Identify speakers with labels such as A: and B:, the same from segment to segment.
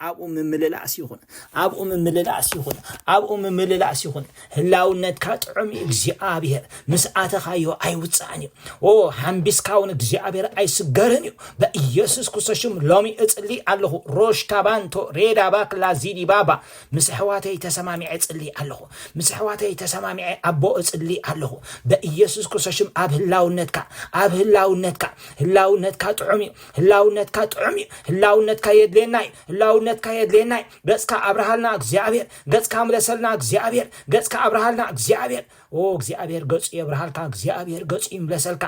A: ኣብኡ ምምልላስ ይኹን ኣብኡ ምምልላስ ይኹን ኣብኡ ምምልላስ ይኹን ህላውነትካ ጥዑም እዩ እግዚኣብሔር ምስ ኣተኻዮ ኣይውፃእን እዩ ኦ ሓምቢስካ እውን እግዚኣብሔር ኣይስገርን እዩ በኢየሱስ ክርስቶስ ሽም ሎሚ እጽሊ ኣለኹ ሮሽ ካባንቶ ሬዳ ባክላ ዚዲ ባባ ምስ ኣሕዋተይ ተሰማሚዐ እጽሊ ኣለኹ ምስ ኣሕዋተይ ተሰማሚዐ ኣቦ እጽሊ ኣለኹ በኢየሱስ ክርስቶስ ሽም ኣብ ህላውነትካ ኣብ ህላውነትካ ህላውነትካ ጥዑም እዩ ህላውነትካ ጥዑም እዩ ህላውነትካ የድልየና እዩ ህላውነትካ የድልየና እዩ ገጽካ ኣብርሃልና እግዚኣብሔር ገጽካ ምለሰልና እግዚኣብሔር ገጽካ ኣብርሃልና እግዚኣብሔር ኦ እግዚኣብሔር ገጹ የብርሃልካ እግዚኣብሔር ገጹ ይምለሰልካ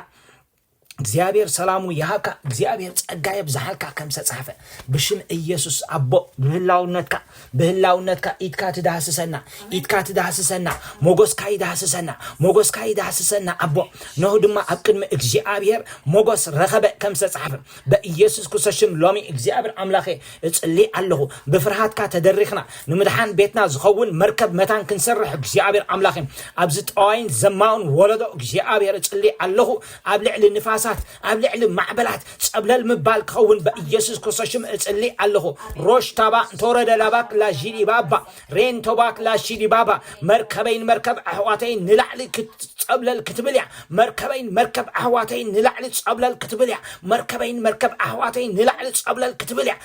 A: እግዚኣብሔር ሰላሙ ይሃብካ እግዚኣብሔር ጸጋ የብዝሓልካ ከም ዝተጻሕፈ ብሽም ኢየሱስ ኣቦ ብህላውነትካ ብህላውነትካ ኢድካ ትዳህስሰና ኢድካ ትዳህስሰና ሞጎስካ ይዳህስሰና ሞጎስካ ይዳህስሰና ኣቦ ነሁ ድማ ኣብ ቅድሚ እግዚኣብሔር ሞጎስ ረኸበ ከም ዝተጻሕፈ በኢየሱስ ክርስቶስ ሽም ሎሚ እግዚኣብሔር ኣምላኸ እጽልይ ኣለኹ ብፍርሃትካ ተደሪኽና ንምድሓን ቤትና ዝኸውን መርከብ መታን ክንሰርሕ እግዚኣብሔር ኣምላኸ ኣብዚ ጠዋይን ዘማውን ወለዶ እግዚኣብሔር እጽልይ ኣለኹ ኣብ ልዕሊ ንፋሳት ኣብ ልዕሊ ማዕበላት ጸብለል ምባል ክኸውን በኢየሱስ ክርስቶስ ሽም እጽሊ ኣለኹ ሮሽ ታባ እንተወረደ ላባክ ላዢዲባባ ሬን ቶባክ ላሺዲባባ መርከበይን መርከብ ኣሕዋተይን ንላዕሊ ክትጸብለል ክትብል እያ መርከበይን መርከብ ኣሕዋተይን ንላዕሊ ጸብለል ክትብል እያ መርከበይን መርከብ ኣሕዋተይን ንላዕሊ ጸብለል ክትብል እያ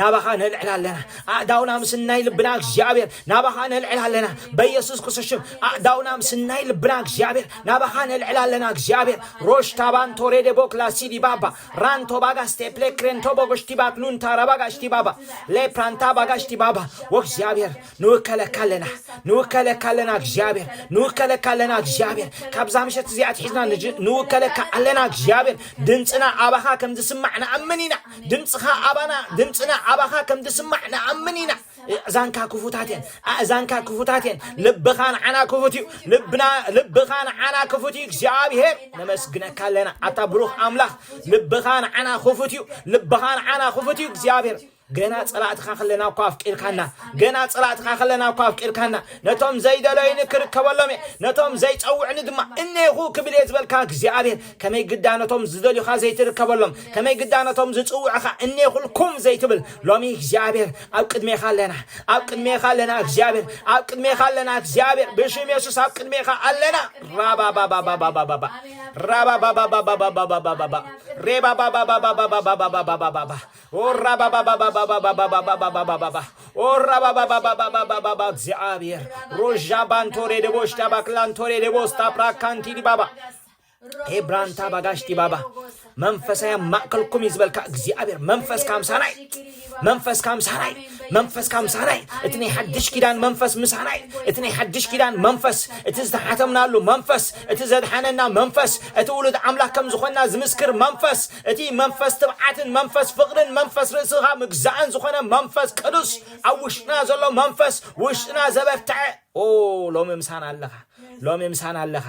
A: ናባኻ ነልዕል ኣለና ኣእዳውና ምስናይ ልብና እግዚኣብሔር ናባኻ ነልዕል ኣለና በኢየሱስ ክርስቶስ ሽም ኣእዳውና ምስናይ ልብና እግዚኣብሔር ናባኻ ነልዕል ኣለና እግዚኣብሔር ሮሽታባን ቶሬዴቦ ክላሲዲ ባባ ራንቶ ባጋ ስቴፕሌ ክሬንቶ ቦጎሽቲባ ክሉንታ ረባጋሽቲ ባባ ሌፕራንታ ባጋሽቲ ባባ ወእግዚኣብሔር ንውከለካ ኣለና ንውከለካ ኣለና እግዚኣብሔር ንውከለካ ኣለና እግዚኣብሔር ካብዛ ምሸት እዚኣ ትሒዝና ንውከለካ ኣለና እግዚኣብሔር ድምፅና ኣባኻ ከም ዝስማዕ ንኣምን ኢና ድምጽኻ ኣባና ድምጽና ኣባኻ ከም ዝስማዕ ንኣምን ኢና ኣእዛንካ ክፉታት እየን ኣእዛንካ ክፉታት እየን ልብኻ ንዓና ክፉት እዩ ልብና ልብኻ ንዓና ክፉት እዩ እግዚኣብሄር ነመስግነካ ኣለና ኣታ ብሩኽ ኣምላኽ ልብኻ ንዓና ክፉት እዩ ልብኻ ንዓና ክፉት እዩ እግዚኣብሄር ገና ፀላእትኻ ከለና እኳ ኣፍቂርካና ገና ፀላእትኻ ከለና እኳ ኣፍቂርካና ነቶም ዘይደለዩኒ ክርከበሎም እየ ነቶም ዘይፀውዕኒ ድማ እኔኹ ክብል እየ ዝበልካ እግዚኣብሄር ከመይ ግዳ ነቶም ዝደልዩኻ ዘይትርከበሎም፣ ከመይ ግዳ ነቶም ዝጽውዑኻ እኔኹልኩም ዘይትብል፣ ሎሚ እግዚኣብሔር ኣብ ቅድሜኻ ኣለና፣ ኣብ ቅድሜኻ ኣለና እግዚኣብሔር፣ ኣብ ቅድሜኻ ኣለና እግዚኣብሔር፣ ብሽም የሱስ ኣብ ቅድሜኻ ኣለና ራባባባባባባባ ራባባባባባባባባባ ሬባባባባባባባባባባባ ኦራባባባባባባባባባባባ ኦራባባባባባባባባ እግዚኣብሔር ሮዣ ባንቶሬ ደቦሽታ ባክላንቶሬ ደቦስታ ፕራካንቲዲ ባባ ሄብራንታ ባጋሽ ዲባባ መንፈሳዊ ማእከልኩም እዩ ዝበልካ እግዚኣብሔር መንፈስ ካምሳናይ መንፈስ ካምሳናይ መንፈስ ካምሳናይ እቲ ናይ ሓድሽ ኪዳን መንፈስ ምሳናይ እቲ ናይ ሓድሽ ኪዳን መንፈስ እቲ ዝተሓተምናሉ መንፈስ እቲ ዘድሓነና መንፈስ እቲ ውሉድ ኣምላክ ከም ዝኾንና ዝምስክር መንፈስ እቲ መንፈስ ትብዓትን መንፈስ ፍቕርን መንፈስ ርእስኻ ምግዛእን ዝኾነ መንፈስ ቅዱስ ኣብ ውሽጥና ዘሎ መንፈስ ውሽጥና ዘበርትዐ ኦ ሎሚ ምሳና ኣለኻ ሎሚ ምሳና ኣለኻ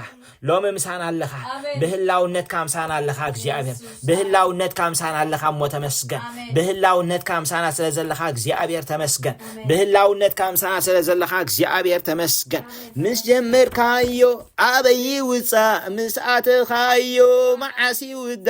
A: ሎሚ ምሳና ኣለኻ ብህላውነትካ ምሳና ኣለኻ እግዚኣብሔር ብህላውነትካ ምሳና ኣለኻ እሞ ተመስገን ብህላውነትካ ምሳና ስለ ዘለኻ እግዚኣብሔር ተመስገን ብህላውነትካ ምሳና ስለ ዘለኻ እግዚኣብሔር ተመስገን ምስ ጀመርካዮ ኣበይ ውፃእ ምስ ኣተኻዮ መዓስ ይውዳ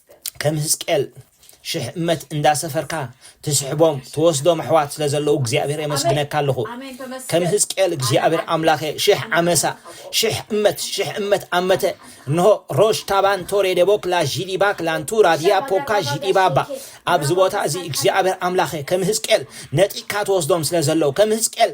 A: ከም ህዝቅኤል ሽሕ እመት እንዳሰፈርካ ትስሕቦም ትወስዶም ኣሕዋት ስለ ዘለዉ እግዚኣብሔር የመስግነካ ኣለኹ ከም ህዝቅኤል እግዚኣብሔር ኣምላኸ ሽሕ ዓመሳ ሽሕ እመት ሽሕ እመት ኣመተ እንሆ ሮሽ ታባን ቶሬ ደቦክ ላዢዲባክ ላንቱራ ዲያ ፖካ ዢዲባባ ኣብዚ ቦታ እዚ እግዚኣብሔር ኣምላኸ ከም ህዝቅኤል ነጢካ ትወስዶም ስለ ዘለዉ ከም ህዝቅኤል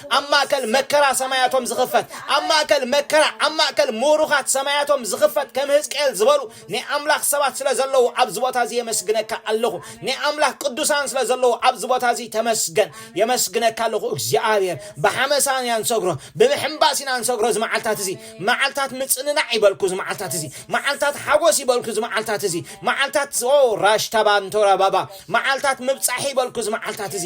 A: ኣብ ማእከል መከራ ሰማያቶም ዝኽፈት ኣብ ማእከል መከራ ኣብ ማእከል ምሩኻት ሰማያቶም ዝኽፈት ከም ህዝቅኤል ዝበሉ ናይ ኣምላኽ ሰባት ስለ ዘለዉ ኣብዚ ቦታ እዚ የመስግነካ ኣለኹ ናይ ኣምላኽ ቅዱሳን ስለ ዘለዉ ኣብዚ ቦታ እዚ ተመስገን የመስግነካ ኣለኹ እግዚኣብሔር ብሓመሳን ኢና ንሰግሮ ብምሕምባስ ኢና ንሰግሮ እዚ መዓልታት እዚ መዓልታት ምጽንናዕ ይበልኩ እዚ መዓልታት እዚ መዓልታት ሓጎስ ይበልኩ እዚ መዓልታት እዚ መዓልታት ኦ ራሽታባ እንተራባባ መዓልታት ምብጻሕ ይበልኩ እዚ መዓልታት እዚ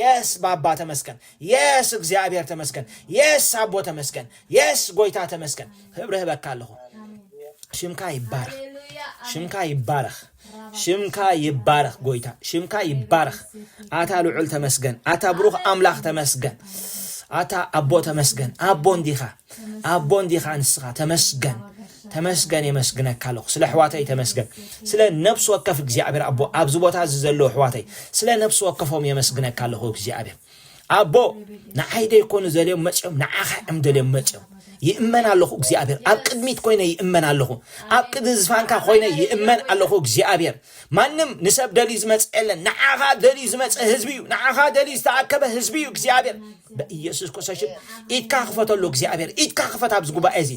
A: የስ ባባ ተመስገን የስ እግዚኣብሔር ተመስገን የስ ኣቦ ተመስገን የስ ጎይታ ተመስገን ክብሪ ህበካ ኣለኹ ሽምካ ይባረኽ ሽምካ ይባረኽ ሽምካ ይባረኽ ጎይታ ሽምካ ይባረኽ ኣታ ልዑል ተመስገን ኣታ ብሩኽ ኣምላኽ ተመስገን ኣታ ኣቦ ተመስገን ኣቦ እንዲኻ ኣቦ እንዲኻ ንስኻ ተመስገን ተመስገን የመስግነካ ኣለኹ ስለ ኣሕዋተይ ተመስገን ስለ ነብሲ ወከፍ እግዚኣብሔር ኣቦ ኣብዚ ቦታ እዚ ዘለዉ ኣሕዋተይ ስለ ነብሲ ወከፎም የመስግነካ ኣለኹ እግዚኣብሔር ኣቦ ንዓይ ደይኮኑ ዘልዮም መፅኦም ንዓኻ እዮም ደልዮም መፅኦም ይእመን ኣለኹ እግዚኣብሔር ኣብ ቅድሚት ኮይነ ይእመን ኣለኹ ኣብ ቅድሚ ዝፋንካ ኮይነ ይእመን ኣለኹ እግዚኣብሔር ማንም ንሰብ ደልዩ ዝመጽእ የለን። ንዓኻ ደልዩ ዝመጽእ ህዝቢ እዩ። ንዓኻ ደልዩ ዝተኣከበ ህዝቢ እዩ። እግዚኣብሔር በኢየሱስ ክርስቶስ ኢድካ ክፈተሉ እግዚኣብሔር ኢድካ ክፈት ኣብዚ ጉባኤ እዚ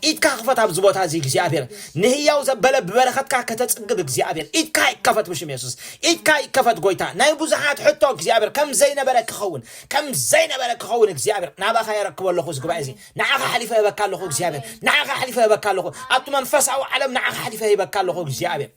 A: ኢድካ ክፈት ኣብዚ ቦታ እዚ እግዚኣብሔር ንህያው ዘበለ ብበረኸትካ ከተጽግብ እግዚኣብሔር ኢድካ ይከፈት ብሽም የሱስ ኢድካ ይከፈት ጎይታ ናይ ብዙሓት ሕቶ እግዚኣብሔር ከም ዘይነበረ ክኸውን ከም ዘይነበረ ክኸውን እግዚኣብሔር ናባኻ የረክቦ ኣለኹ እዚ ጉባኤ እዚ ንዓኻ ሓሊፈ ህበካ ኣለኹ እግዚኣብሔር ንዓኻ ሓሊፈ ህበካ ኣለኹ ኣብቲ መንፈሳዊ ዓለም ንዓኻ ሓሊፈ ህበካ ኣለኹ እግዚኣብሔር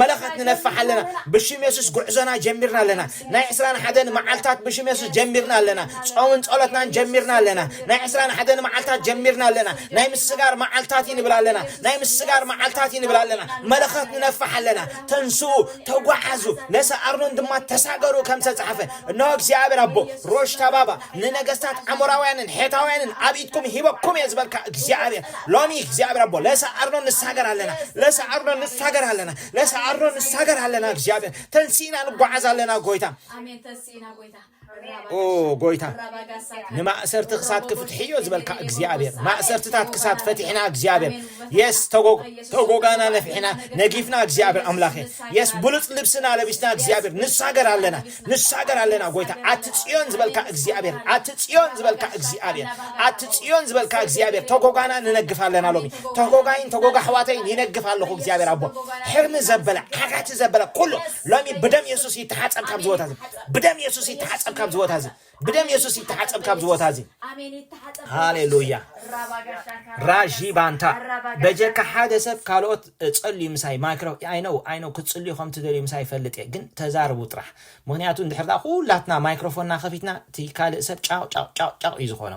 A: መለኸት ንነፍሕ ኣለና ብሽም የሱስ ጉዕዞና ጀሚርና ኣለና ናይ ዕስራን ሓደን መዓልታት ብሽም የሱስ ጀሚርና ኣለና ጾምን ጸሎትናን ጀሚርና ኣለና ናይ ዕስራን ሓደን መዓልታት ጀሚርና ኣለና ናይ ምስጋር መዓልታት ይንብል ኣለና ናይ ምስጋር መዓልታት ይንብል ኣለና መለኸት ንነፍሕ ኣለና ተንስኡ ተጓዓዙ ነሰ ኣርኖን ድማ ተሳገሩ ከም ዝተጻሕፈ እነሆ እግዚኣብሔር ኣቦ ሮሽ ተባባ ንነገስታት ኣሞራውያንን ሔታውያንን ኣብ ኢድኩም ሂበኩም እየ ዝበልካ እግዚኣብሔር ሎሚ እግዚኣብሔር ኣቦ ለሰ ኣርኖን ንሳገር ኣለና ለሰ ኣርኖን ንሳገር ኣለና ለሰ ኣርኖን ንሳገር ኣለና እግዚኣብሔር ተንሲእና ንጓዓዝ ኣለና ጎይታ ኦ ጎይታ ንማእሰርቲ ክሳት ክፍትሒ እዮ ዝበልካ እግዚኣብሔር ማእሰርትታት ክሳት ፈቲሕና እግዚኣብሔር የስ ተጎጋና ነፊሕና ነጊፍና እግዚኣብሔር ኣምላኽ የስ ብሉፅ ልብስና ለቢስና እግዚኣብሔር ንሳገር ኣለና ንሳገር ኣለና ጎይታ ኣቲ ጽዮን ዝበልካ እግዚኣብሔር ኣቲ ጽዮን ዝበልካ እግዚኣብሔር ኣቲ ጽዮን ዝበልካ እግዚኣብሔር ተጎጋና ንነግፍ ኣለና ሎሚ ተጎጋይን ተጎጋ ኣሕዋተይን ይነግፍ ኣለኹ እግዚኣብሔር ኣቦ ሕርሚ ዘበለ ዓጋቲ ዘበለ ኩሉ ሎሚ ብደም የሱስ ይተሓጸብ ካብዚ ቦታ እዚ ብደም የሱስ ይተሓጸብ ካብዚ ቦታ እዚ ብደም የሱስ ይተሓጸብ ካብዚ ቦታ እዚ ሃሌሉያ ራዢ ባንታ በጀካ ሓደ ሰብ ካልኦት ጸልዩ ምሳይ ማይክሮ ኣይነው ኣይነው ክትጽልዩ ከም ትደልዩ ምሳይ ይፈልጥ እየ ግን ተዛርቡ ጥራሕ ምክንያቱ እንድሕር ኩላትና ማይክሮፎንና ከፊትና እቲ ካልእ ሰብ ጫቅ ጫቅ ጫቅ ጫቅ እዩ ዝኾኖ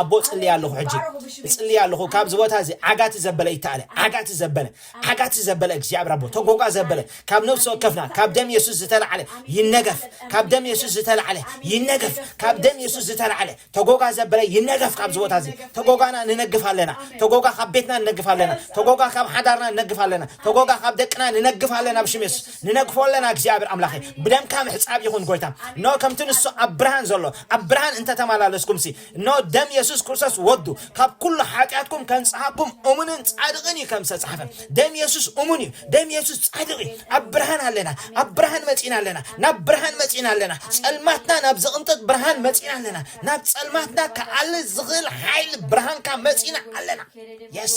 A: ኣቦ ጽልይ ኣለኹ ሕጂ እጽልይ ኣለኹ ካብዚ ቦታ እዚ ዓጋቲ ዘበለ ይተኣለ ዓጋቲ ዘበለ ዓጋቲ ዘበለ እግዚኣብሔር ኣቦ ተጎጓ ዘበለ ካብ ነፍሲ ወከፍና ካብ ደም የሱስ ዝተላዕለ ይነገፍ ካብ ደም የሱስ ዝተላዕለ ይነገፍ ካብ ደም የሱስ ዝተላዕለ ተጎጓ ዘበለ ይነገፍ ካብዚ ቦታ እዚ ተጎጓና ንነግፍ ኣለና ተጎጓ ካብ ቤትና ንነግፍ ኣለና ተጎጓ ካብ ሓዳርና ንነግፍ ኣለና ተጎጓ ካብ ደቅና ንነግፍ ኣለና ብሽም የሱስ ንነግፎ ኣለና እግዚኣብሔር ኣምላኸ ብደምካ ምሕፃብ ይኹን ጎይታ ኖ ከምቲ ንሱ ኣብ ብርሃን ዘሎ ኣብ ብርሃን እንተተመላለስኩምሲ ኖ ደም የሱስ ክርስቶስ ወዱ ካብ ኩሉ ሓጢኣትኩም ከንጽሃኩም እሙንን ጻድቕን እዩ ከም ዝተጻሕፈ ደም የሱስ እሙን እዩ ደም የሱስ ጻድቕ እዩ ኣብ ብርሃን ኣለና ኣብ ብርሃን መጺና ኣለና ናብ ብርሃን መጺና ኣለና ጸልማትና ናብ ዝቕንጥጥ ብርሃን መጺና ኣለና ናብ ጸልማትና ክኣልል ዝኽእል ሓይሊ ብርሃንካ መጺና ኣለና የስ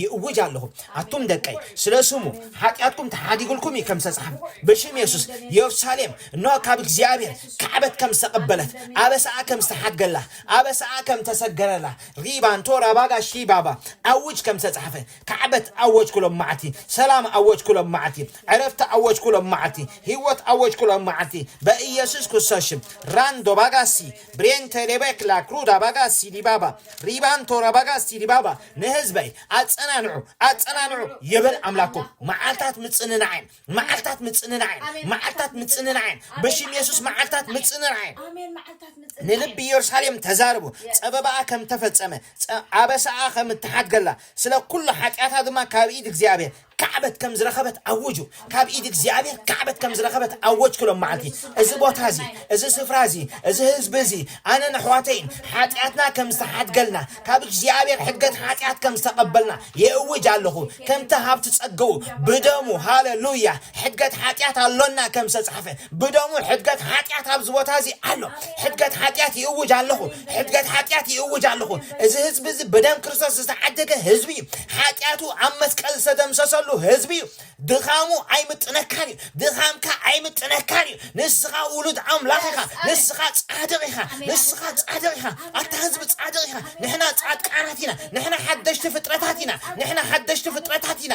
A: ይእውጅ ኣለኹ ኣቱም ደቀይ ስለ ስሙ ሓጢኣትኩም ተሓዲግልኩም እዩ ከም ዝተጻሕፈ ብሽም የሱስ የሩሳሌም እነሆ ካብ እግዚኣብሔር ካዕበት ከም ዝተቐበለት ኣበሳኣ ከም ዝተሓድገላ ኣበሳኣ ከም ተሰገረላ ሪባንቶ ራባጋ ሺባባ ኣውጅ ከም ዝተጻሕፈ ካዕበት ኣወጅኩሎም መዓልቲ ሰላም ኣወጅኩሎም መዓልቲ ዕረፍቲ ኣወጅኩሎም መዓልቲ ህይወት ኣወጅኩሎም መዓልቲ በኢየሱስ ክርስቶስ ሽም ራንዶ ባጋሲ ብሬን ተሌበክ ላክሩዳ ባጋ ሲዲባባ ሪባን ቶራባጋ ሲዲባባ ንህዝበይ ኣጸናንዑ ኣጸናንዑ ይብል ኣምላኩም መዓልታት ምጽንናዕን መዓልታት ምጽንናዕን መዓልታት ምጽንናዕን በሽም የሱስ መዓልታት ምጽንናዕን ንልቢ ኢየሩሳሌም ተዛርቡ ጸበባኣ ከም ተፈጸመ ኣበሳኣ ከም እተሓድገላ ስለ ኩሉ ሓጢኣታ ድማ ካብ ኢድ እግዚኣብሔር ካዕበት ከም ዝረኸበት ኣውጁ። ካብ ኢድ እግዚኣብሔር ካዕበት ከም ዝረኸበት ኣወጅኩ ሎም መዓልቲ። እዚ ቦታ እዚ፣ እዚ ስፍራ እዚ፣ እዚ ህዝቢ እዚ፣ ኣነን ኣሕዋተይን ሓጢኣትና ከም ዝተሓድገልና፣ ካብ እግዚኣብሔር ሕድገት ሓጢኣት ከም ዝተቐበልና የእውጅ ኣለኹ። ከምቲ ሃብቲ ጸገኡ ብደሙ፣ ሃለሉያ፣ ሕድገት ሓጢኣት ኣሎና ከም ዝተጻሕፈ፣ ብደሙ ሕድገት ሓጢኣት ኣብዚ ቦታ እዚ ኣሎ። ሕድገት ሓጢኣት ይእውጅ ኣለኹ። ሕድገት ሓጢኣት ይእውጅ ኣለኹ። እዚ ህዝቢ እዚ ብደም ክርስቶስ ዝተዓደገ ህዝቢ እዩ። ሓጢኣቱ ኣብ መስቀል ዝተደምሰሰሉ ህዝቢ እዩ። ድኻሙ ኣይምጥነካን እዩ። ድኻምካ ኣይምጥነካን እዩ። ንስኻ ውሉድ ኣምላኽ ኢኻ። ንስኻ ጻድቕ ኢኻ። ንስኻ ጻድቕ ኢኻ። ኣታ ህዝቢ ጻድቕ ኢኻ። ንሕና ጻድቃናት ኢና። ንሕና ሓደሽቲ ፍጥረታት ኢና። ንሕና ሓደሽቲ ፍጥረታት ኢና።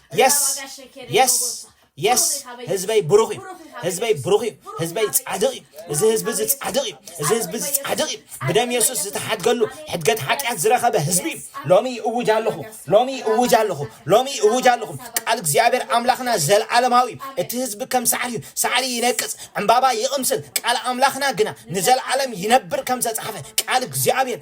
A: የስ የስ የስ ህዝበይ ብሩኽ እዩ ህዝበይ ብሩኽ እዩ ህዝበይ ጻድቕ እዩ እዚ ህዝቢ እዚ ጻድቕ እዩ እዚ ህዝቢ እዚ ጻድቕ እዩ ብደም የሱስ ዝተሓድገሉ ሕድገት ሓጢኣት ዝረኸበ ህዝቢ እዩ ሎሚ እውጅ ኣለኹ ሎሚ እውጅ ኣለኹ ሎሚ እውጅ ኣለኹ ቃል እግዚኣብሔር ኣምላኽና ዘለዓለማዊ እዩ እቲ ህዝቢ ከም ሳዕሪ እዩ ሳዕሪ ይነቅጽ ዕምባባ ይቕምስል ቃል ኣምላኽና ግና ንዘለዓለም ይነብር ከም ዝተጻሕፈ ቃል እግዚኣብሔር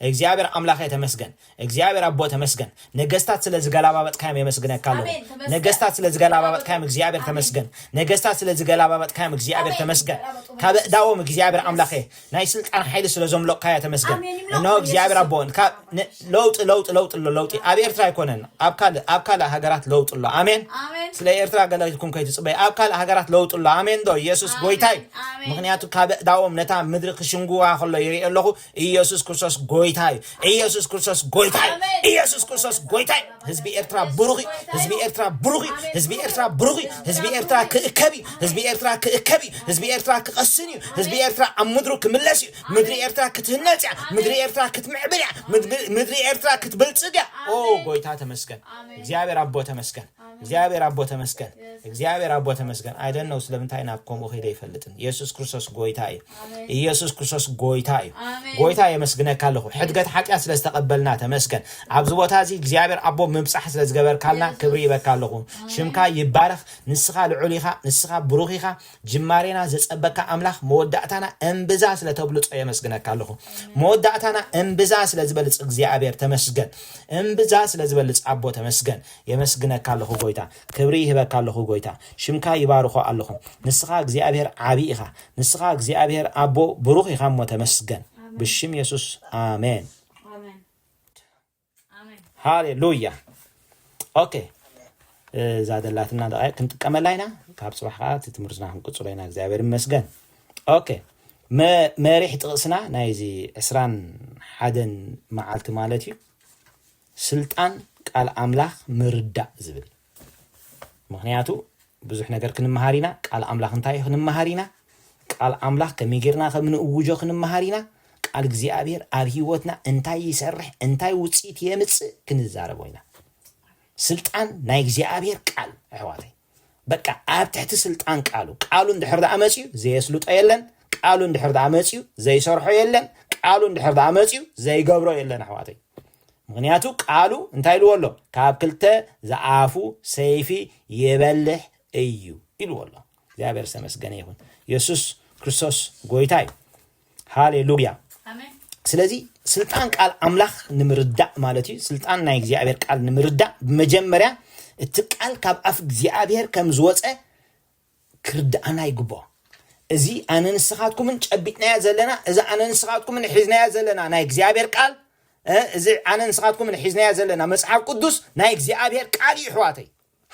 A: እግዚኣብሔር ኣምላኬ ተመስገን እግዚኣብሔር ኣቦ ተመስገን ነገስታት ስለ ዝገላባበጥካዮም የመስግነካ ኣለኩ ኣሜን፣ ተመስገን። ነገስታት ስለ ዝገላባበጥካዮም እግዚኣብሔር ኣሜን። ተመስገን ነገስታት ስለ ዝገላባበጥካዮም እግዚኣብሔር ኣሜን፣ ተመስገን ይገላበጡ ካብ መንግስት። እዳዎም እግዚኣብሔር ኣምላኬ Yes. ናይ ስልጣን ሓይሊ ስለ ዘምለቕካዮ ተመስገን ኣሜን፣ ይምለቑ እነሆ ብኢየሱስ እግዚኣብሔር ስም። ኣቦ ካብ ን- ለውጢ ለውጢ ለውጢ ኣሎ ለውጢ ኣብ ኤርትራ ኣይኮነን ኣብ ካልእ ኣብ ካልእ ሃገራት ለውጢ ኣሎ ኣሜን ኣሜን። ስለ ኤርትራ ገለ ኢልኩም ከይትፅበይ ኣብ ካልእ ሃገራት ለውጢ ኣሎ ኣሜን ዶ ኢየሱስ ኣሜን፣ ጎይታይ ኣሜን። ምክንያቱ ካብ እዳዎም ነታ ምድሪ ክሽንጉዋ ከሎ ይርኢ ኣለኹ ኢየሱስ ክርስቶስ ጎይታ እዩ ኢየሱስ ክርስቶስ ጎይታ እዩ ኢየሱስ ክርስቶስ ጎይታ እዩ ህዝቢ ኤርትራ ብሩኽ እዩ ህዝቢ ኤርትራ ብሩኽ እዩ ህዝቢ ኤርትራ ብሩኽ እዩ ህዝቢ ኤርትራ ክእከብ እዩ ህዝቢ ኤርትራ ክእከብ እዩ ህዝቢ ኤርትራ ክቐስን እዩ ህዝቢ ኤርትራ ኣብ ምድሩ ክምለስ እዩ ምድሪ ኤርትራ ክትህነጽ እያ ምድሪ ኤርትራ ክትምዕብል እያ ምድሪ- ምድሪ ኤርትራ ክትብልጽግ እያ ኦ ጎይታ ተመስገን እግዚኣብሔር ኣቦ ተመስገን እግዚኣብሔር ኣቦ ተመስገን እግዚኣብሔር ኣቦ ተመስገን ኣይደነው ስለምንታይ ናብ ከምኡ ከይደ ይፈልጥን ኢየሱስ ክርስቶስ ጎይታ እዩ ኢየሱስ ክርስቶስ ጎይታ እዩ ጎይታ የመስግነካ ኣለኹ ሕድገት ሓጢኣት ስለ ዝተቐበልና ተመስገን ኣብዚ ቦታ እዚ እግዚኣብሔር ኣቦ ምብፃሕ ስለ ዝገበርካልና ክብሪ ይበካ ኣለኹ ሽምካ ይባረኽ ንስኻ ልዑል ኢኻ ንስኻ ብሩኽ ኢኻ ጅማሬና ዘፀበካ ኣምላኽ መወዳእታና እምብዛ ስለ ተብልፆ የመስግነካ ኣለኹ መወዳእታና እምብዛ ስለ ዝበልፅ እግዚኣብሔር ተመስገን እምብዛ ስለ ዝበልፅ ኣቦ ተመስገን የመስግነካ ኣለኹ ጎይታ ክብሪ ይህበካ ኣለኹ ጎይታ ሽምካ ይባርኾ ኣለኹ ንስኻ እግዚኣብሔር ዓቢ ኢኻ ንስኻ እግዚኣብሔር ኣቦ ብሩኽ ኢኻ እሞ ተመስገን ብሽም የሱስ ኣሜን ሃሌሉያ ኦኬ እዛ ደላትና ደቃይቅ ክንጥቀመላ ኢና ካብ ፅባሕ ከዓ እቲ ትምህርትና ክንቅፅሎ ኢና እግዚኣብሔር ይመስገን ኦኬ መሪሕ ጥቕስና ናይዚ ዕስራን ሓደን መዓልቲ ማለት እዩ ስልጣን ቃል ኣምላኽ ምርዳእ ዝብል ምኽንያቱ ብዙሕ ነገር ክንመሃር ኢና ቃል ኣምላኽ እንታይ እዩ ክንመሃር ኢና ቃል ኣምላኽ ከመይ ጌርና ከም ንእውጆ ክንመሃር ኢና ቃል እግዚኣብሔር ኣብ ህይወትና እንታይ ይሰርሕ እንታይ ውፅኢት የምፅእ ክንዛረቦ ኢና ስልጣን ናይ እግዚኣብሔር ቃል ኣሕዋተይ በቃ ኣብ ትሕቲ ስልጣን ቃሉ ቃሉ እንድሕር ደኣ መፅዩ ዘየስልጦ የለን ቃሉ እንድሕር ደኣ መፅዩ ዘይሰርሖ የለን ቃሉ እንድሕር ደኣ መፅዩ ዘይገብሮ የለን ኣሕዋተይ ምክንያቱ ቃሉ እንታይ ኢልዎ ኣሎ ካብ ክልተ ዝኣፉ ሰይፊ ይበልሕ እዩ ኢልዎ ኣሎ እግዚኣብሔር ዝተመስገነ ይኹን የሱስ ክርስቶስ ጎይታ እዩ ሃሌሉያ ስለዚ ስልጣን ቃል ኣምላኽ ንምርዳእ ማለት እዩ ስልጣን ናይ እግዚኣብሔር ቃል ንምርዳእ ብመጀመርያ እቲ ቃል ካብ ኣፍ እግዚኣብሔር ከም ዝወፀ ክርድኣና ይግብኦ እዚ ኣነ ንስኻትኩምን ጨቢጥናያ ዘለና እዚ ኣነ ንስኻትኩምን ሒዝናያ ዘለና ናይ እግዚኣብሔር ቃል እዚ ኣነ ንስኻትኩምን ሒዝናያ ዘለና መፅሓፍ ቅዱስ ናይ እግዚኣብሔር ቃል እዩ ኣሕዋተይ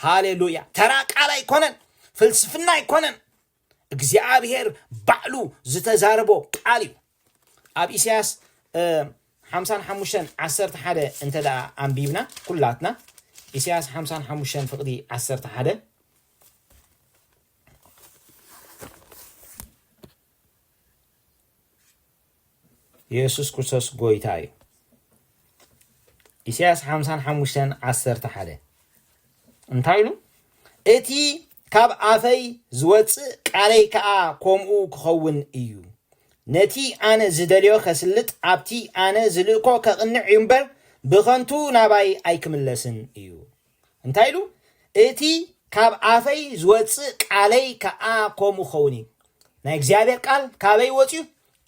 A: ሃሌሉያ ተራ ቃል ኣይኮነን ፍልስፍና ኣይኮነን እግዚኣብሄር ባዕሉ ዝተዛረቦ ቃል እዩ ኣብ ኢሳያስ ሓምሳን ሓሙሽተን ዓሰርተ ሓደ እንተ ደኣ ኣንቢብና ኩላትና ኢሳያስ ሓምሳን ሓሙሽተን ፍቕዲ ዓሰርተ ሓደ የሱስ ክርስቶስ ጎይታ እዩ። ኢሳያስ ሓምሳን ሓሙሽተን ዓሰርተ ሓደ እንታይ ኢሉ? እቲ ካብ ኣፈይ ዝወፅእ ቃለይ ከዓ ከምኡ ክኸውን እዩ። ነቲ ኣነ ዝደልዮ ከስልጥ ኣብቲ ኣነ ዝልእኮ ከቕንዕ እዩ እምበር ብኸንቱ ናባይ ኣይክምለስን እዩ። እንታይ ኢሉ? እቲ ካብ ኣፈይ ዝወጽእ ቃለይ ከኣ ከምኡ ክኸውን እዩ። ናይ እግዚኣብሔር ቃል ካበይ ወጽዩ?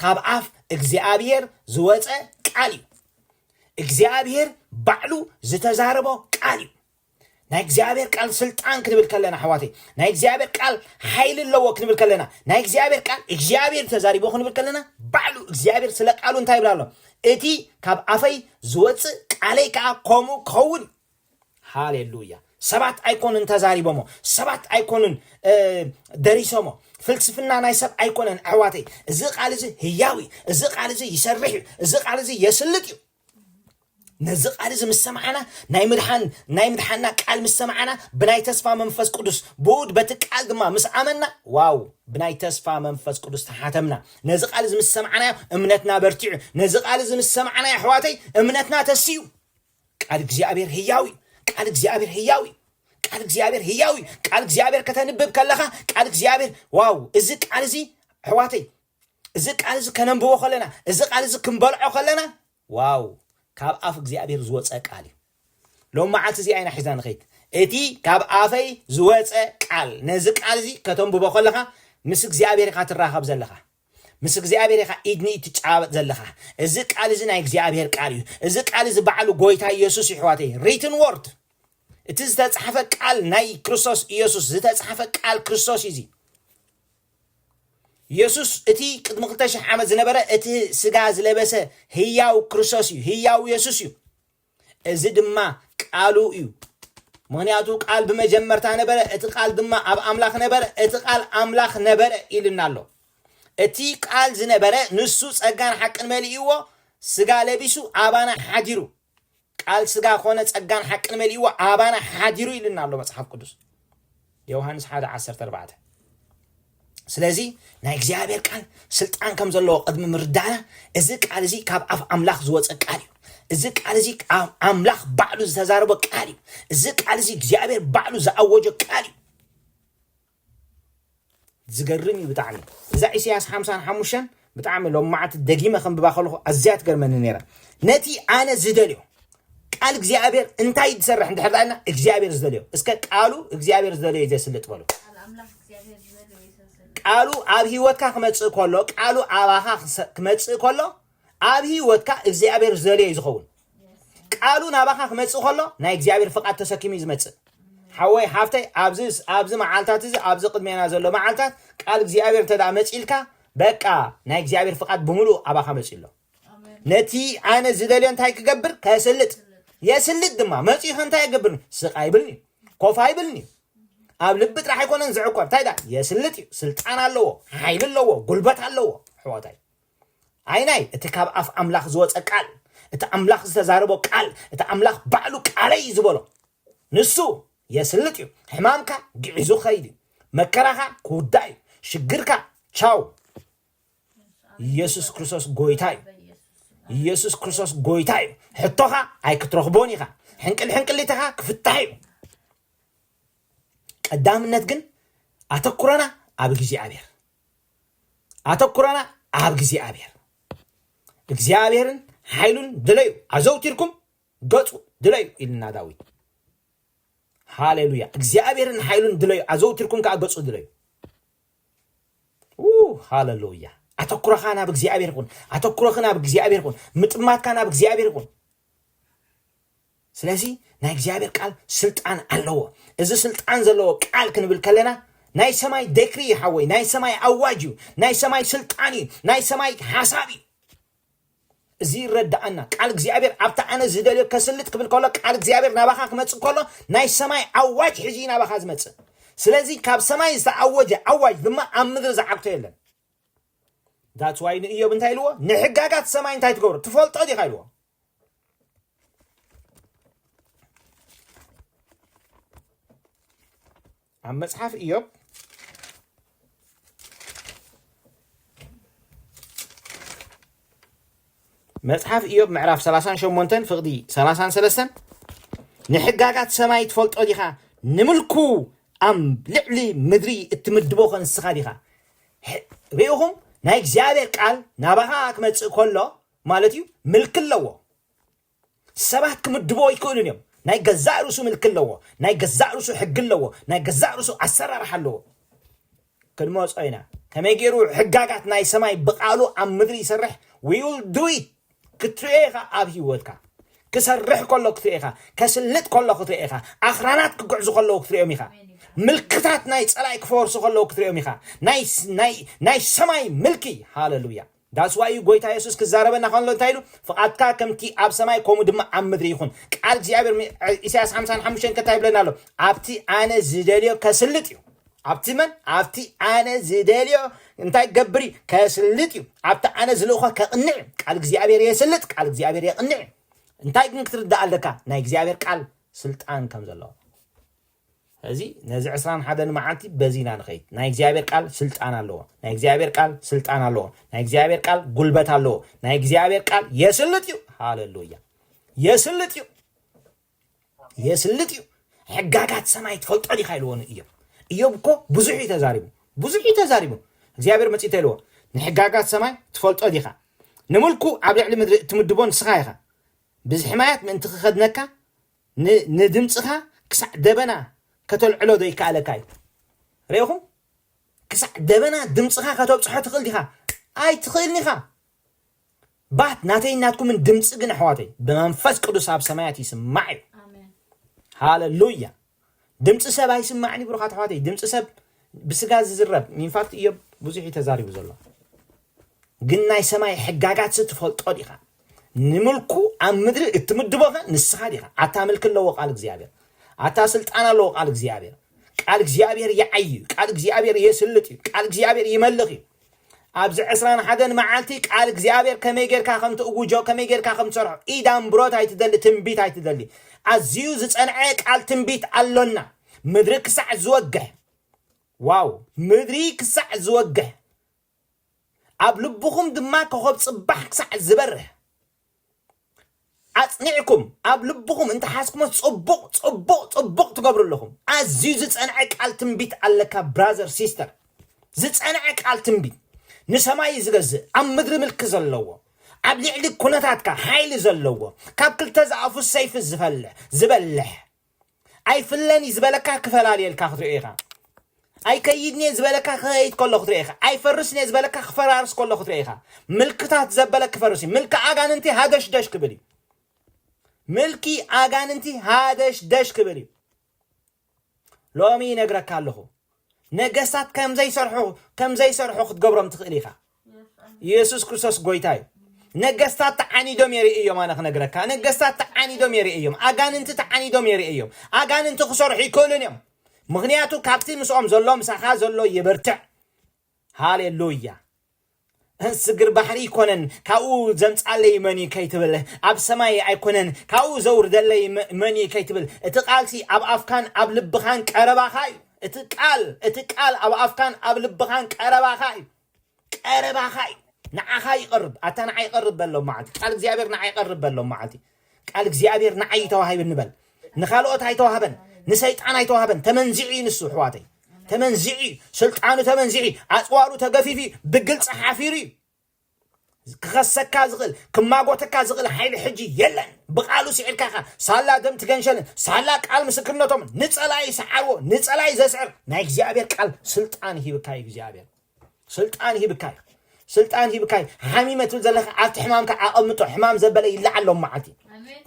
A: ካብ ኣፍ እግዚኣብሔር ዝወጸ ቃል እዩ። እግዚኣብሔር ባዕሉ ዝተዛረቦ ቃል እዩ። ናይ እግዚኣብሔር ቃል ስልጣን ክንብል ከለና ኣሕዋተይ፣ ናይ እግዚኣብሔር ቃል ሓይሊ ኣለዎ ክንብል ከለና፣ ናይ እግዚኣብሔር ቃል እግዚኣብሔር ተዛሪቦ ክንብል ከለና፣ ባዕሉ እግዚኣብሔር ስለ ቃሉ እንታይ ይብላ ኣሎ? እቲ ካብ ኣፈይ ዝወፅእ ቃለይ ከዓ ከምኡ ክኸውን ሃሌሉያ ሰባት ኣይኮንን ተዛሪቦሞ ሰባት ኣይኮንን ደሪሶሞ ፍልስፍና ናይ ሰብ ኣይኮነን ኣሕዋተይ እዚ ቃል እዚ ህያው እዩ እዚ ቃል እዚ ይሰርሕ እዩ እዚ ቃል እዚ የስልጥ እዩ ነዚ ቃል እዚ ምስ ሰማዕና ናይ ምድሓን ናይ ምድሓንና ቃል ምስ ሰማዕና ብናይ ተስፋ መንፈስ ቅዱስ ብኡድ በቲ ቃል ድማ ምስ ኣመና ዋው ብናይ ተስፋ መንፈስ ቅዱስ ተሓተምና ነዚ ቃል እዚ ምስ ሰማዕናዮ እምነትና በርቲዑ ነዚ ቃል እዚ ምስ ሰማዕናዮ ኣሕዋተይ እምነትና ተስዩ ቃል እግዚኣብሔር ህያው እዩ ቃል እግዚኣብሔር ህያው እዩ ቃል እግዚኣብሔር ህያው እዩ ቃል እግዚኣብሔር ከተንብብ ከለኻ ቃል እግዚኣብሔር ዋው እዚ ቃል እዚ ኣሕዋተይ እዚ ቃል እዚ ከነንብቦ ከለና እዚ ቃል እዚ ክንበልዖ ከለና ዋው ካብ ኣፍ እግዚኣብሔር ዝወፀ ቃል እዩ ሎም መዓልቲ እዚ ኣይና ሒዝና ንኸይድ እቲ ካብ ኣፈይ ዝወፀ ቃል ነዚ ቃል እዚ ከተንብቦ ከለኻ ምስ እግዚኣብሔር ኢኻ ትራኸብ ዘለኻ ምስ እግዚኣብሔር ኢኻ ኢድ ንኢድ ትጨባበጥ ዘለኻ እዚ ቃል እዚ ናይ እግዚኣብሔር ቃል እዩ እዚ ቃል እዚ ባዕሉ ጎይታ ኢየሱስ ይሕዋተይ ሪትን ወርድ እቲ ዝተጻሕፈ ቃል ናይ ክርስቶስ ኢየሱስ ዝተጻሕፈ ቃል ክርስቶስ እዩ እዚ ኢየሱስ እቲ ቅድሚ 2000 ዓመት ዝነበረ እቲ ስጋ ዝለበሰ ህያው ክርስቶስ እዩ ህያው ኢየሱስ እዩ እዚ ድማ ቃሉ እዩ፣ ምኽንያቱ ቃል ብመጀመርታ ነበረ፣ እቲ ቃል ድማ ኣብ ኣምላኽ ነበረ፣ እቲ ቃል ኣምላኽ ነበረ ኢልና ኣሎ። እቲ ቃል ዝነበረ ንሱ ጸጋን ሓቅን መሊእዎ ስጋ ለቢሱ ኣባና ሓዲሩ። ቃል ስጋ ኮነ ጸጋን ሓቅን መሊእዎ ኣባና ሓዲሩ ኢልና ኣሎ መጽሓፍ ቅዱስ። ዮውሃንስ ሓደ ዓሰርተ ኣርባዕተ ስለዚ ናይ እግዚኣብሔር ቃል ስልጣን ከም ዘለዎ ቅድሚ ምርዳእና እዚ ቃል እዚ ካብ ኣፍ ኣምላኽ ዝወፀ ቃል እዩ እዚ ቃል እዚ ኣብ ኣምላኽ ባዕሉ ዝተዛረቦ ቃል እዩ እዚ ቃል እዚ እግዚኣብሔር ባዕሉ ዝኣወጆ ቃል እዩ ዝገርም እዩ ብጣዕሚ እዛ ኢሰያስ ሓምሳን ሓሙሽተን ብጣዕሚ ሎም መዓልቲ ደጊመ ከንብባ ከለኹ ኣዝያ ትገርመኒ ነይራ ነቲ ኣነ ዝደልዮ ቃል እግዚኣብሔር እንታይ ዝሰርሕ እንድሕር ዳልና እግዚኣብሔር ዝደልዮ እስከ ቃሉ እግዚኣብሔር ዝደልዮ እዩ ዘስልጥ በሉ ቃሉ ኣብ ህይወትካ ክመፅእ ከሎ ቃሉ ኣባኻ ክመፅእ ከሎ ኣብ ህይወትካ እግዚኣብሔር ዝደልዮ እዩ ዝኸውን። ቃሉ ናባኻ ክመጽእ ከሎ ናይ እግዚኣብሔር ፍቓድ ተሰኪሙ እዩ ዝመጽእ። ሓወይ ሓፍተይ ኣብዚ ኣብዚ መዓልታት እዚ ኣብዚ ቅድሜና ዘሎ መዓልታት ቃል እግዚኣብሔር እንተ መጺልካ በቃ ናይ እግዚኣብሔር ፍቓድ ብምሉእ ኣባኻ መጺኡ ኣሎ። ነቲ ኣነ ዝደልዮ እንታይ ክገብር ከስልጥ የስልጥ ድማ መጺኡ እንታይ ይገብርኒ ስቃ ይብልኒ ኮፋ ይብልኒ ኣብ ልቢ ጥራሕ ኣይኮነን ዝዕቆብ እንታይ ዳ የስልጥ እዩ ስልጣን ኣለዎ ሓይሊ ኣለዎ ጉልበት ኣለዎ ኣሕዋታይ ኣይናይ እቲ ካብ ኣፍ ኣምላኽ ዝወጸ ቃል እቲ ኣምላኽ ዝተዛረቦ ቃል እቲ ኣምላኽ ባዕሉ ቃለይ ዝበሎ ንሱ የስልጥ እዩ ሕማምካ ግዒዙ ክኸይድ እዩ መከራኻ ክውዳእ እዩ ሽግርካ ቻው ኢየሱስ ክርስቶስ ጎይታ እዩ ኢየሱስ ክርስቶስ ጎይታ እዩ ሕቶኻ ኣይክትረኽቦን ኢኻ ሕንቅል ሕንቅሊትኻ ክፍታሕ እዩ ቀዳምነት ግን ኣተኩረና ኣብ እግዚኣብሔር ኣተኩሮና ኣብ እግዚኣብሔር እግዚኣብሔርን ሓይሉን ድለዩ ኣዘውቲርኩም ገጹ ድለዩ ኢልና ዳዊት ሃሌሉያ እግዚኣብሔርን ሓይሉን ድለዩ ኣዘውቲርኩም ከዓ ገጹ ድለዩ ሃሌሉያ ኣተኩሮኻ ናብ እግዚኣብሔር ይኹን ኣተኩሮኽ ናብ እግዚኣብሔር ይኹን ምጥማትካ ናብ እግዚኣብሔር ይኹን ስለዚ ናይ እግዚኣብሔር ቃል ስልጣን ኣለዎ እዚ ስልጣን ዘለዎ ቃል ክንብል ከለና ናይ ሰማይ ደክሪ እዩ ሓወይ ናይ ሰማይ ኣዋጅ እዩ ናይ ሰማይ ስልጣን እዩ ናይ ሰማይ ሓሳብ እዩ እዚ ይረዳኣና ቃል እግዚኣብሔር ኣብታ ኣነ ዝደልዮ ከስልጥ ክብል ከሎ ቃል እግዚኣብሔር ናባኻ ክመፅእ ከሎ ናይ ሰማይ ኣዋጅ ሕዚ እዩ ናባኻ ዝመፅእ ስለዚ ካብ ሰማይ ዝተኣወጀ ኣዋጅ ድማ ኣብ ምድሪ ዝዓግቶ የለን ዳትዋይ ንእዮብ እንታይ ኢልዎ ንሕጋጋት ሰማይ እንታይ ትገብሮ ትፈልጦ ዲኻ ኢልዎ ኣብ መጽሓፍ እዮብ መጽሓፍ እዮብ ምዕራፍ 38 ፍቕዲ 33 ንሕጋጋት ሰማይ ትፈልጦ ዲኻ ንምልኩ ኣብ ልዕሊ ምድሪ እትምድቦ ከንስኻ ዲኻ ርኢኹም ናይ እግዚኣብሔር ቃል ናባኻ ክመጽእ ከሎ ማለት እዩ ምልኪ ኣለዎ ሰባት ክምድቦ ይክእሉን እዮም ናይ ገዛእ ርእሱ ምልኪ ኣለዎ ናይ ገዛእ ርእሱ ሕጊ ኣለዎ ናይ ገዛእ ርእሱ ኣሰራርሓ ኣለዎ ክንመፆ ኢና ከመይ ገይሩ ሕጋጋት ናይ ሰማይ ብቃሉ ኣብ ምድሪ ይሰርሕ ዊል ዱይ ክትሪኦ ኢኻ ኣብ ሂወትካ ክሰርሕ ከሎ ክትሪኦ ኢኻ ከስልጥ ከሎ ክትሪኦ ኢኻ ኣኽራናት ክግዕዙ ከለዉ ክትሪኦም ኢኻ ምልክታት ናይ ፀላኢ ክፈርሱ ከለዉ ክትሪኦም ኢኻ ናይ ሰማይ ምልኪ ሃለሉያ That's why እዩ ጎይታ የሱስ ክዛረበና ከሎ እንታይ ኢሉ ፍቓድካ ከምቲ ኣብ ሰማይ ከምኡ ድማ ኣብ ምድሪ ይኹን ቃል እግዚኣብሔር ሚ- ዕ- ኢሳያስ 55 ከታይ ይብለና ኣሎ ኣብቲ ኣነ ዝደልዮ ከስልጥ እዩ ኣብቲ መን ኣብቲ ኣነ ዝደልዮ እንታይ ክገብር እዩ ከስልጥ እዩ ኣብቲ ኣነ ዝልእኾ ከቕንዕ እዩ ቃል እግዚኣብሔር የስልጥ ቃል እግዚኣብሔር የቕንዕ እዩ እንታይ ግን ክትርዳእ ኣለካ ናይ እግዚኣብሔር ቃል ስልጣን ከም ዘለዎ ስለዚ ነዚ ዕስራን ሓደን መዓልቲ በዚ ኢና ንኸይድ። ናይ እግዚኣብሔር ቃል ስልጣን ኣለዎ። ናይ እግዚኣብሔር ቃል ስልጣን ኣለዎ። ናይ እግዚኣብሔር ቃል ጉልበት ኣለዎ። ናይ እግዚኣብሔር ቃል የስልጥ እዩ። ሃለሉያ! የስልጥ እዩ። የስልጥ እዩ። ሕጋጋት ሰማይ ትፈልጦ ዲኻ ኢልዎ ንእዮብ እዮብ እኮ ብዙሕ እዩ ተዛሪቡ ብዙሕ እዩ ተዛሪቡ እግዚኣብሔር መፅኡ ተልዎ ንሕጋጋት ሰማይ ትፈልጦ ዲኻ ንምልኩ ኣብ ልዕሊ ምድሪ እትምድቦ ንስኻ ኢኻ ብዝሕማያት ምእንቲ ክኸድነካ ን ንድምጽኻ ክሳዕ ደበና ከተልዕሎ ዶ ይከኣለካ እዩ ርኢኹም ክሳዕ ደበና ድምጽኻ ከተብጽሖ ትኽእል ዲኻ ኣይትኽእልን ኢኻ ባት ናተይን ናትኩምን ድምፂ ግን ኣሕዋተይ ብመንፈስ ቅዱስ ኣብ ሰማያት ይስማዕ እዩ ሃለሉያ ድምፂ ሰብ ኣይስማዕን እዩ ብሩኻት ኣሕዋተይ ድምፂ ሰብ ብስጋ ዝዝረብ ኢንፋክት እዮብ ብዙሕ እዩ ተዛሪቡ ዘሎ ግን ናይ ሰማይ ሕጋጋት ስትፈልጦ ዲኻ ንምልኩ ኣብ ምድሪ እትምድቦኸ ንስኻ ዲኻ ኣታ ምልኪ ኣለዎ ቃል እግዚኣብሔር ኣታ ስልጣን ኣለዎ ቃል እግዚኣብሔር ቃል እግዚኣብሔር ይዓይ እዩ ቃል እግዚኣብሔር የስልጥ እዩ ቃል እግዚኣብሔር ይመልኽ እዩ ኣብዚ ዕስራን ሓደን መዓልቲ ቃል እግዚኣብሔር ከመይ ጌርካ ከም ትእውጆ ከመይ ጌርካ ከም ትሰርሖ ኢድ ኣምብሮት ኣይትደሊ ትንቢት ኣይትደሊ ኣዝዩ ዝጸንዐ ቃል ትንቢት ኣሎና ምድሪ ክሳዕ ዝወግሕ ዋው ምድሪ ክሳዕ ዝወግሕ ኣብ ልብኹም ድማ ኮኸብ ጽባሕ ክሳዕ ዝበርህ ኣጽኒዕኩም ኣብ ልብኹም እንተ ሓዝኩሞ ጽቡቕ ጽቡቕ ጽቡቕ ትገብሩ ኣለኹም ኣዝዩ ዝጸንዐ ቃል ትንቢት ኣለካ ብራዘር ሲስተር ዝጸንዐ ቃል ትንቢት ንሰማይ ዝገዝእ ኣብ ምድሪ ምልኪ ዘለዎ ኣብ ልዕሊ ኩነታትካ ሓይሊ ዘለዎ ካብ ክልተ ዝኣፉ ሰይፊ ዝፈልሕ ዝበልሕ ኣይፍለን እዩ ዝበለካ ክፈላልየልካ ክትሪኦ ኢኻ ኣይከይድን እየ ዝበለካ ክኸይድ ከሎ ክትሪኦ ኢኻ ኣይፈርስን እየ ዝበለካ ክፈራርስ ከሎ ክትሪኦ ኢኻ ምልክታት ዘበለ ክፈርስ እዩ ምልኪ ኣጋንንቲ ሃደሽደሽ ክብል እዩ ምልኪ ኣጋንንቲ ሃደሽደሽ ክብል እዩ ሎሚ ይነግረካ ኣለኹ ነገስታት ከም ዘይሰርሑ ከም ዘይሰርሑ ክትገብሮም ትኽእል ኢኻ ኢየሱስ ክርስቶስ ጎይታ እዩ። ነገስታት ተዓኒዶም የርእዮም ኣነ ክነግረካ ነገስታት ተዓኒዶም የርእዮም ኣጋንንቲ ተዓኒዶም የርእዮም ኣጋንንቲ ክሰርሑ ይክእሉን እዮም ምክንያቱ ካብቲ ምስኦም ዘሎ ምሳኻ ዘሎ ይብርትዕ ሃሌሉያ ስግር ባሕሪ ኣይኮነን ካብኡ ዘምፃለይ መን እዩ ከይትብል ኣብ ሰማይ ኣይኮነን ካብኡ ዘውርደለይ መ- መን እዩ ከይትብል እቲ ቃልሲ ኣብ ኣፍካን ኣብ ልብኻን ቀረባኻ እዩ እቲ ቃል እቲ ቃል ኣብ ኣፍካን ኣብ ልብኻን ቀረባኻ እዩ ቀረባኻ እዩ ንዓኻ ይቐርብ ኣታ ንዓይ ይቐርብ በሎም መዓልቲ ቃል እግዚኣብሔር ንዓይ ይቐርብ በሎም መዓልቲ ቃል እግዚኣብሔር ንዓይ ይተዋሂብኒ ንበል ንካልኦት ኣይተዋህበን ንሰይጣን ኣይተዋህበን ተመንዚዑ እዩ ንሱ ኣሕዋተይ ተመንዚዑ እዩ ስልጣኑ ተመንዚዑ እዩ ኣፅዋሩ ተገፊፉ እዩ ብግልፂ ሓፊሩ እዩ ክኸሰካ ዝኽእል ክማጎተካ ዝኽእል ሓይሊ ሕጂ የለን ብቃሉ ሲዒርካ ኢኻ ሳላ ደም ትገንሸልን ሳላ ቃል ምስክርነቶምን ንጸላኢ ሰዓርዎ ንጸላኢ ዘስዕር ናይ እግዚኣብሔር ቃል ስልጣን ሂብካ እግዚኣብሔር ስልጣን ሂብካ እዩ ስልጣን ሂብካ እዩ ሓሚመ ትብል ዘለካ ኣብቲ ሕማምካ ኣቐምጦ ሕማም ዘበለ ይለዓሎም መዓልቲ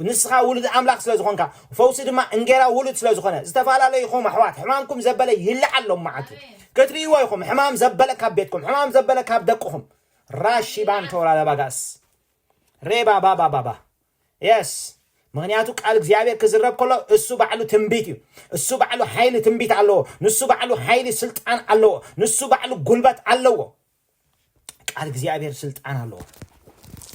A: ንስኻ ውሉድ ኣምላኽ ስለ ዝኾንካ ፈውሲ ድማ እንጌራ ውሉድ ስለ ዝኾነ ዝተፈላለዩ ይኹም ኣሕዋት ሕማምኩም ዘበለ ይለዓሎም መዓልቲ ክትርእይዎ ኢኹም ሕማም ዘበለ ካብ ቤትኩም ሕማም ዘበለ ካብ ደቅኹም ራሺባን ቶራላ ባጋስ ሬባ ባባ ባባ የስ ምክንያቱ ቃል እግዚኣብሔር ክዝረብ ከሎ እሱ ባዕሉ ትንቢት እዩ እሱ ባዕሉ ሓይሊ ትንቢት ኣለዎ ንሱ ባዕሉ ሓይሊ ስልጣን ኣለዎ ንሱ ባዕሉ ጉልበት ኣለዎ ቃል እግዚኣብሔር ስልጣን ኣለዎ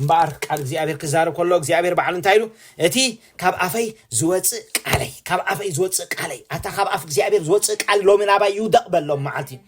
A: እምበኣር ቃል እግዚኣብሔር ክዛረብ ከሎ እግዚኣብሔር ባዕሉ እንታይ ኢሉ እቲ ካብ ኣፈይ ዝወፅእ ቃለይ ካብ ኣፈይ ዝወፅእ ቃለይ ኣታ ካብ ኣፍ እግዚኣብሔር ዝወፅእ ቃል ሎሚ ናባይ ይውደቕ በሎም መዓልቲ እዩ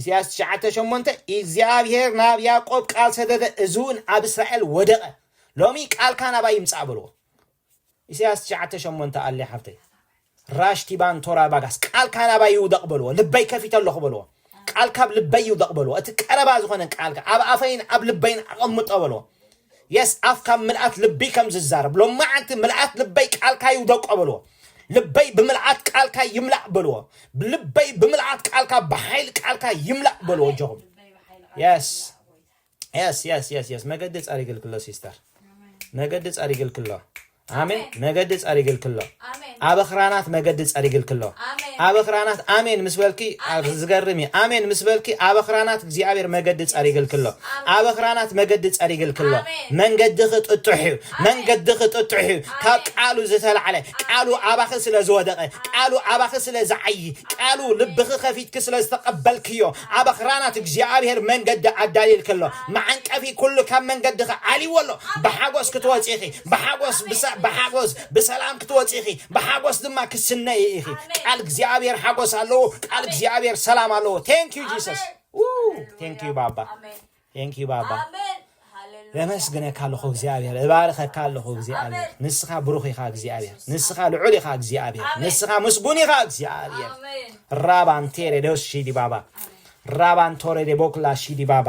A: ኢሳያስ ትሽዓተ ሸሞንተ እግዚኣብሄር ናብ ያእቆብ ቃል ሰደደ እዝውን ኣብ እስራኤል ወደቐ ሎሚ ቃልካ ናባይ ይምጻእ በልዎ ኢሳያስ ትሽዓተ ሸሞንተ ኣልያ ሓፍተይ ራሽቲባን ቶራ ባጋስ ቃልካ ናባይ ይውደቕ በልዎ ልበይ ከፊተ ኣለኹ በልዎ ቃልካ ኣብ ልበይ ይውደቕ በልዎ እቲ ቀረባ ዝኾነ ቃልካ ኣብ ኣፈይን ኣብ ልበይን ኣቐምጦ በልዎ የስ ኣፍ ካብ ምልኣት ልቢ ከም ዝዛረብ ሎማዓንቲ ምልኣት ልበይ ቃልካ ይውደቆ በልዎ ልበይ ብምልኣት ቃልካ ይምላእ በልዎ ልበይ ብምልኣት ቃልካ ብሓይሊ ቃልካ ይምላእ በልዎ ኣጆኹም የስ የስ የስ የስ የስ መገዲ ጸሪግልክሎ ሲስተር መገዲ ጸሪግልክሎ ኣሜን መገዲ ጸሪግልኪ ኣሎ ኣብ ኣኽራናት መገዲ ጸሪግልኪ ኣሎ ኣብ ኣኽራናት ኣሜን ምስ በልኪ ዝገርም እዩ ኣሜን ምስ በልኪ ኣብ ኣኽራናት እግዚኣብሔር መገዲ ጸሪግልኪ ኣሎ ኣብ ኣኽራናት መገዲ ጸሪግልኪ ኣሎ መንገድኺ ጥጡሕ እዩ መንገድኺ ጥጡሕ እዩ ካብ ቃሉ ዝተላዕለ ቃሉ ኣባኺ ስለ ዝወደቐ ቃሉ ኣባኺ ስለ ዝዓዪ ቃሉ ልብኺ ከፊትኪ ስለ ዝተቐበልክዮ ኣብ ኣኽራናት እግዚኣብሔር መንገዲ ኣዳልየልኪ ኣሎ መዓንቀፊ ኩሉ ካብ መንገድኺ ዓልዎ ኣሎ ብሓጎስ ክትወፂኺ ብሓጎስ ብሰ ብሓጎስ ብሰላም ክትወፂ ኢኺ ብሓጎስ ድማ ክስነይ ኢኺ ቃል እግዚኣብሔር ሓጎስ ኣለዎ ቃል እግዚኣብሔር ሰላም ኣለዎ ቴንክ ዩ ጂሰስ ቴንክ ዩ ባባ ቴንክ ዩ ባባ የመስግነካ ኣለኹ እግዚኣብሔር እባርኸካ ኣለኹ እግዚኣብሔር ንስኻ ብሩኽ ኢኻ እግዚኣብሔር ንስኻ ልዑል ኢኻ እግዚኣብሔር ንስኻ ምስጉን ኢኻ እግዚኣብሔር ራባንቴሬ ደስ ሺዲ ባባ ራባንቶሬ ደቦክላ ሺዲ ባባ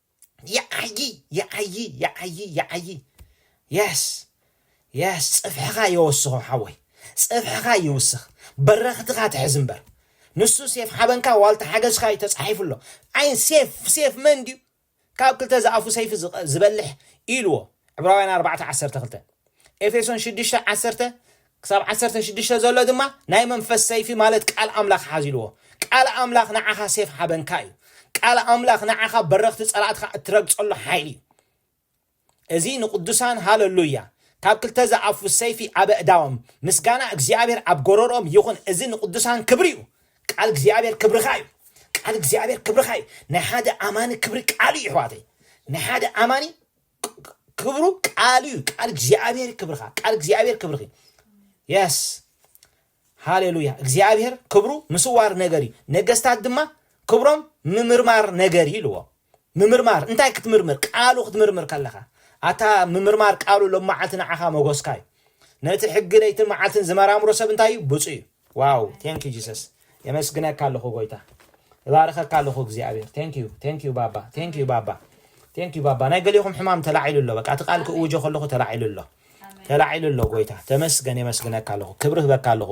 A: ይዓዪ ይዓዪ ይዓዪ ይዓዪ የስ የስ ጽፍሕኻ የወስኾ ሓወይ ጽፍሕኻ ይውስኽ በረኽትኻ ትሕዝ እምበር ንሱ ሴፍ ሓበንካ ዋልታ ሓገዝካ እዩ ተጻሒፉ ኣሎ ዓይን ሴፍ ሴፍ መን ድዩ ካብ ክልተ ዝኣፉ ሰይፊ ዝቐ- ዝበልሕ ኢልዎ ዕብራውያን 4 12 ኤፌሶን 6 10 ክሳብ ዓሰርተ ሽዱሽተ ዘሎ ድማ ናይ መንፈስ ሰይፊ ማለት ቃል ኣምላኽ ሓዚልዎ። ቃል ኣምላኽ ንዓኻ ሴፍ ሓበንካ እዩ። ቃል ኣምላኽ ንዓኻ በረኽቲ ጸላእትኻ እትረግጸሉ ሓይሊ እዩ። እዚ ንቅዱሳን ሃለሉያ ካብ ክልተ ዝኣፉ ሰይፊ ኣብ ኣእዳዎም ምስጋና እግዚኣብሔር ኣብ ጎረርኦም ይኹን እዚ ንቅዱሳን ክብሪ እዩ ቃል እግዚኣብሔር ክብርኻ እዩ ቃል እግዚኣብሔር ክብርኻ እዩ ናይ ሓደ ኣማኒ ክብሪ ቃል እዩ ይሕዋተይ ናይ ሓደ ኣማኒ ክብሩ ቃሉ እዩ ቃል እግዚኣብሔር ክብርካ ቃል እግዚኣብሔር ክብርኺ የስ ሃሌሉያ እግዚኣብሔር ክብሩ ምስዋር ነገር እዩ ነገስታት ድማ ክብሮም ምምርማር ነገር እዩ ኢልዎ ምምርማር እንታይ ክትምርምር ቃሉ ክትምርምር ከለኻ ኣታ ምምርማር ቃሉ ሎመዓልቲ ንዓኻ መጎስካ እዩ ነቲ ሕጊ ለይትን መዓልትን ዝመራምሮ ሰብ እንታይ እዩ ብፁ እዩ ዋው ቴንኪ ጂሰስ የመስግነካ ኣለኹ ጎይታ እባርኸካ ኣለኹ እግዚኣብሔር ቴንኪዩ ቴንኪዩ ባባ ቴንኪዩ ባባ ቴንኪዩ ባባ ናይ ገሊኹም ሕማም ተላዒሉ ኣሎ በቃ እቲ ቃል ክእውጆ ከለኹ ተላዒሉ ኣሎ ተላዒሉ ኣሎ ጎይታ ተመስገን የመስግነካ ኣለኹ ክብሪ ህበካ ኣለኹ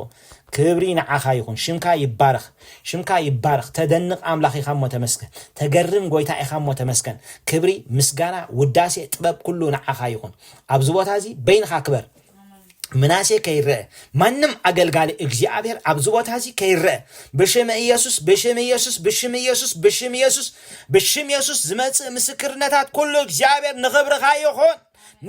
A: ክብሪ ንዓኻ ይኹን ሽምካ ይባረኽ ሽምካ ይባረኽ ተደንቕ ኣምላኽ ኢኻ እሞ ተመስገን ተገርም ጎይታ ኢኻ እሞ ተመስገን ክብሪ ምስጋና ውዳሴ ጥበብ ኩሉ ንዓኻ ይኹን ኣብዚ ቦታ እዚ በይንኻ ክበር ምናሴ ከይረአ ማንም ኣገልጋሊ እግዚኣብሔር ኣብዚ ቦታ እዚ ከይረአ ብሽም ኢየሱስ ብሽም ኢየሱስ ብሽም ኢየሱስ ብሽም ኢየሱስ ብሽም ኢየሱስ ዝመጽእ ምስክርነታት ኩሉ እግዚኣብሔር ንኽብርኻ ይኹን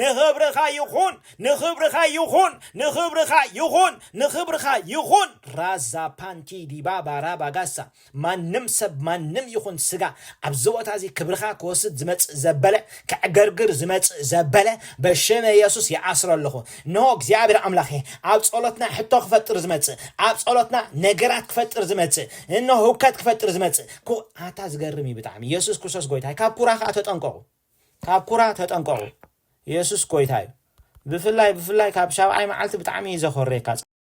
A: ንኽብርኻ ይኹን ንኽብርኻ ይኹን ንኽብርኻ ይኹን ንኽብርኻ ይኹን ራዛ ፓንቲ ዲባ ባራ ባጋሳ ማንም ሰብ ማንም ይኹን ስጋ ኣብዚ ቦታ እዚ ክብርኻ ክወስድ ዝመጽእ ዘበለ ከዕገርግር ዝመጽእ ዘበለ በሽመ የሱስ ይኣስሮ ኣለኹ እንሆ እግዚኣብሔር ኣምላኸ ኣብ ጸሎትና ሕቶ ክፈጥር ዝመጽእ ኣብ ጸሎትና ነገራት ክፈጥር ዝመጽእ እንሆ ህውከት ክፈጥር ዝመጽእ ኩ ኣታ ዝገርም እዩ ብጣዕሚ የሱስ ክርስቶስ ጎይታ ካብ ኩራ ከዓ ተጠንቀቑ ካብ ኩራ ተጠንቀቑ የሱስ ጎይታ እዩ ብፍላይ ብፍላይ ካብ ሻብዓይ መዓልቲ ብጣዕሚ እዩ ዘኾርየካ